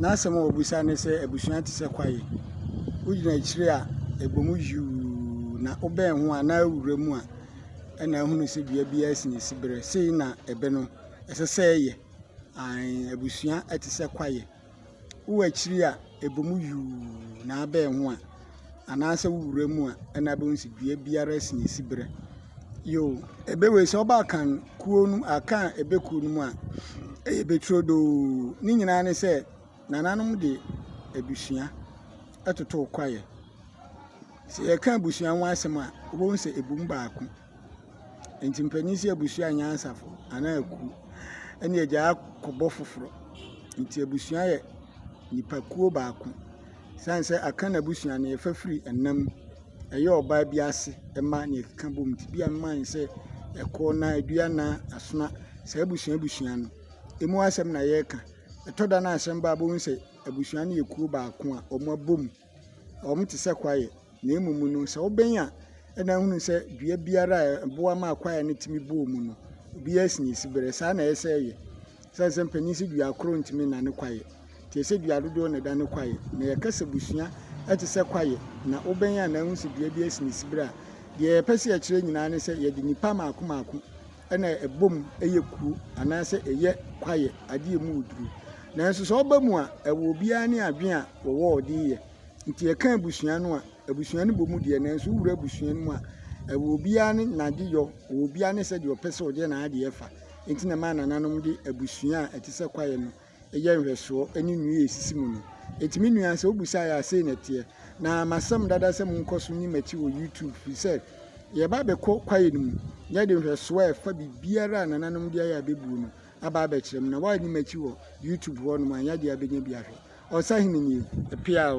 N'asɛm a obisa ne sɛ, Abusua te sɛ kwae. Wugyina akyiri a, ɛbɔ mu yuu, na wobɛn ho a, na awura mu a, ɛna ahunu sɛ dua biara si ne siberɛ. Sei na ɛbɛ no, ɛsɛ sɛ ɛyɛ. Aane, abusua te sɛ kwae. Wowɔ akyiri a, ɛbɔ mu yuu, na abɛn ho a, anaasɛ wo wura mu a, ɛna bɛhu sɛ dua biara si ne si berɛ. Yo, ɛbɛwei sɛ ɔba kan kuo no akan ɛbɛ kuo no mu a, ɛyɛ bɛturodoo. Ne nyinaa ne sɛ nananom de abusua ɛtoto kwaeɛ. Sɛ yɛka abusua ho asɛm a, wobɛhu sɛ ɛbu mu baako. Nti mpanin sɛ abusua nyansafo anaa aku ɛne agyaa kɔbɔ foforɔ nti abusua yɛ nipa kuo baako sane sɛ aka no abusua no yɛfa firi ɛna mu ɛyɛ ɔbaa bi ase ɛma neɛ ɛkeka bom nti bia mema no sɛ ɛkoɔna aduana asona saa abusua abusua no ɛmu asɛm na yɛka ɛtɔda no a asɛm ba a wobɛhu sɛ abusua no yɛ kuo baako a ɔmo abom. Wɔte sɛ kwaeɛ na mmom no sɛ wobɛn a na wohunu sɛ dua biara a ɛboa ma kwaeɛ no tumi bɔ mu no, ebiara si ne siberɛ. Saa na ɛsɛ sɛ ɛyɛ. Ɛsiane sɛ mpanin sɛ dua koro ntumi nna ne kwaeɛ nti, ɛsɛ sɛ dua dodoɔ na ɛda ne kwaeɛ. Na yɛka sɛ abusua te sɛ kwaeɛ na wobɛn a na wohu sɛ dua biara si ne siberɛ a, deɛ yɛpɛ sɛ yɛkyerɛ nyinaa ne sɛ yɛde nnipa mmaako mmaako. na ɛbɔ mu yɛ kuro anaasɛ ɛyɛ kwaeɛ, adeɛ a ɛmu yɛ duru. Nanso sɛ ɔba mu a, ɛwɔ obiara ne adwene a wɔwɔ a wɔde reyɛ. Nti yɛka abusua no a, abusua no bɔ mu deɛ nanso wowura abusua no mu a, ɛwɔ obiara ne n'adeyɔ, ɛwɔ obiara ne sɛdeɛ ɔpɛ sɛ ɔde n'adeɛ fa. Nti na ɛma nananom de abusua a ɛte sɛ kwaeɛ no yɛ nhwɛsoɔ ne nnua a ɛsisi mu no. Ɛtumi nua sɛ wobisa yɛ a sei na ɛteɛ. Na masɛm dada sɛ monkɔ so nni m'akyi wɔ YouTube firi sɛ yɛba abɛkɔ kwaeɛ no mu na yɛde nhwɛsoɔ a ɛfa biribiara a nananom de ayɛ abɛbuo no aba abɛkyerɛ mo na woanni m'akyi wɔ YouTube hɔ nom anyɛ adeɛ abɛnya bi ahwɛ. Ɔsahene nie. Pia o.